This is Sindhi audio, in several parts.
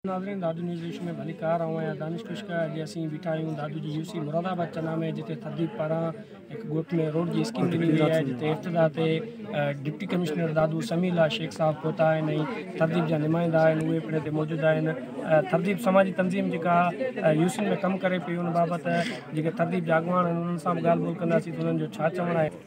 ناظرين دادو نيوز ايشو ۾ ڀليڪار آئون آهيان دانش ڪشڪ اڄ اسين بيٺا آهيون دادو جي يو سي مراد آباد چنا ۾ جتي ترديپ پاران هڪ ڳوٺ ۾ روڊ جي اسڪيم ڏني وئي آهي جتي افتتاح تي ڊپٽي ڪمشنر دادو سميع الله شيخ صاحب پهتا آهن ۽ ترديپ جا نمائندا آهن اهي پڻ هتي موجود آهن ترديپ سماجي تنظيم جيڪا يو سين ۾ ڪم ڪري پئي ان بابت جيڪي ترديپ جا اڳواڻ آهن انهن سان به ڳالهه ٻولهه ڪنداسين ته انهن جو ڇا چوڻ آهي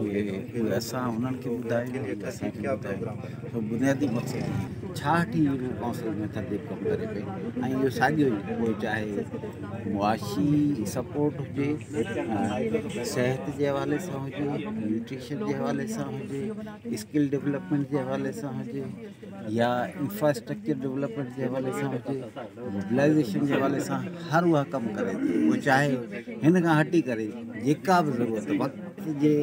اهي اسان انهن کي ٻڌايو ۽ اسان کي ٻڌايو سو بنيادي مقصد هي ڇاهٺ ئي رڳو ڪائونسل ۾ ترتيب ڪم ڪري پئي ۽ اهو ساڳيو ئي پوء چاهي معاشي سپورٽ هجي صحت جي حوالي سان هجي نيوٽريشن جي حوالي سان هجي اسڪل ڊولپمينٽ جي حوالي سان هجي يا انفراسٽرڪچر ڊولپمينٽ جي حوالي سان هجي موبلائيزيشن جي حوالي سان هر اها ڪم ڪري ٿي پوء چاهي هن کان هٽي ڪري جيڪا به ضرورت وقت جي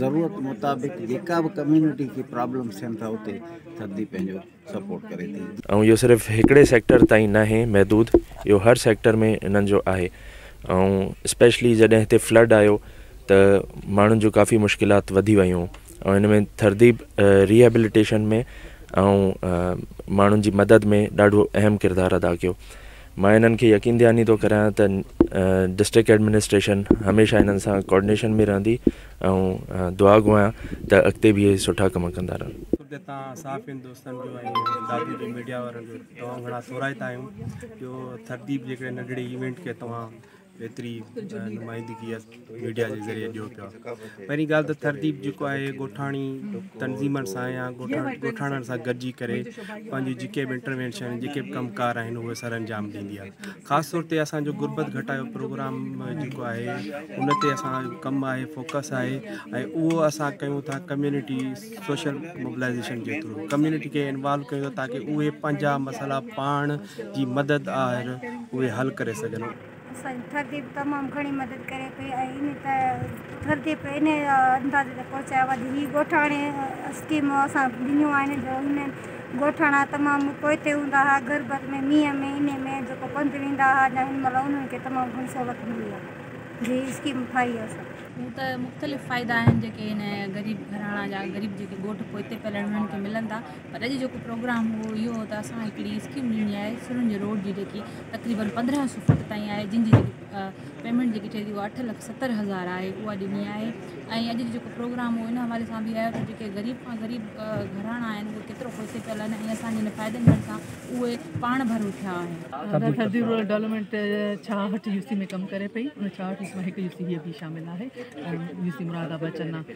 ضرورت مطابق جيڪا به ڪميونٽي کي پرابلمس ٿين ٿا اتي ٿڌي پنهنجو سپورٽ ڪري ٿي. ۽ اهو صرف هڪڙي سيڪٽر تائين ناهي محدود اهو هر سيڪٽر ۾ انهن جو آهي ۽ اسپيشلي جڏهن هتي فلڊ آيو ته ماڻهن جون ڪافي مشڪلات وڌي ويون ۽ ان ۾ ٿرديپ ريهيبليٽيشن ۾ ۽ ماڻهن جي مدد ۾ ڏاڍو اهم ڪردار ادا ڪيو مان انهن کي يقين دهاني ٿو ڪرايان ته ڊسٽرڪٽ ايڊمنسٽريشن هميشه انهن سان ڪوآرڊينيشن ۾ رهندي ۽ دعا گو آهيان ته اڳتي به اهي سٺا ڪم ڪندا رهن تان صحافين دوستن جو ۽ دادو جي ميڊيا وارن جو تمام گھڻا ٿورائتا آهيون جو ٿرديپ جيڪڏهن ننڍڙي ايونٽ کي توهان ايتري نمائندگي ميڊيا جي ذريعي ڏيو پيا پهرين ڳالهه ته ترديپ جيڪو آهي گوٺاڻي تنظيمن سان يا گوٺاڻن سان گڏجي ڪري پنهنجي جيڪي به انٽروينشن آهن جيڪي به ڪم ڪار آهن اهي سر انجام ڏيندي آهي خاص طور تي اسانجو غربت گهٽايو پروگرام جيڪو آهي ان تي اسان ڪم آهي فوڪس آهي ۽ اهو اسان ڪيون ٿا ڪميونٽي سوشل موبلائزيشن جي ٿرو ڪميونٽي کي انوالو ڪيون ٿا تاڪي اهي پنهنجا مسئلا پاڻ جي مدد آهر اهي حل ڪري سگهن. اسان جي ٿر ديپ تمام گهڻي مدد ڪري پئي ۽ ان ٿر ديپ ان اندازي تي پهچايو آهي جو هي ڳوٺاڻي اسڪيمون اسان ڏنيون آهن جو هن ڳوٺاڻا تمام پوئتي هوندا ها غربت ۾ مينهن ۾ انهي ۾ جيڪو پنڌ ويندا ها جا هن مهل انهن کي تمام گهڻي سهولت ملي آهي جي هي اسڪيم ٺاهي آهي اسان هون ته مختلف فائدا آهن جيڪي هن غريب گهراڻا جا غريب جيڪي ڳوٺ پوئتي پيل آهن انهن کي ملندا. پر اڄ جيڪو پروگرام هو اهو هو ته اسان هڪڙي اسڪيم ڏيڻي آهي سرنج روڊ جي جيڪي تقريبن پندرهن سو فٽ تائين آهي جن جي جيڪي پيمنٽ جيڪي ٺهي ٿي اها اٺ لک ستر هزار آهي اها ڏني آهي ۽ اڄ جيڪو پروگرام هو ان حوالي سان بي آيو ته جيڪي غريب کان غريب گهراڻا آهن اهي ڪيترو پوئتي پيل آهن ۽ اسان جي هن فائدي ملڻ سان اهي پاڻ ڀرو ٿيا آهن سرجي رورل ڊولپمينٽ ڇاهٺ يو سي ۾ ڪم ڪري پئي ان ڇاهٺ يو سي مان هڪ يو سي هي به شامل آهي يو سي مراد آباد چنا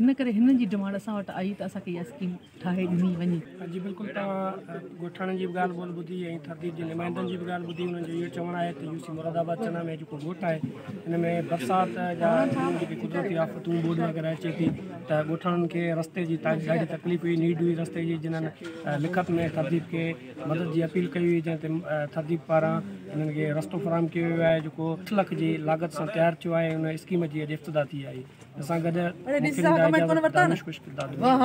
ان ڪري هنن جي ڊمانڊ اسان وٽ آئي ته اسان کي اها اسڪيم ٺاهي ڏني وڃي. جي بلڪل توهان ڳوٺاڻن جي به ڳالهه ٻولهه ٻڌي ۽ ٿرديد جي نمائندن جي به ڳالهه ٻڌي انهن جو اهو چوڻ آهي ته يو سي مراد آباد چنا ۾ جيڪو ڳوٺ آهي ان ۾ برسات جا ڏينهن جيڪي قدرتي آفتون ٻوڏ وغيره اچي ٿي ته ڳوٺاڻن کي رستي جي ڏاڍي تڪليف هئي نيڊ هئي رستي جي جنهن لکت ۾ ٿرديد کي مدد جي اپيل ڪئي هئي جنهن تي تھذيب پاران انهن کي رستو فراهم ڪيو ويو آهي جيڪو اٺ لک جي لاڳت سان تيار ٿيو آهي ان اسڪيم جي اڄ افتتاح ٿي آهي ان سان گڏ مکي ننڊ آئي جا وٽ دانش ڪش ڪردار نڀايو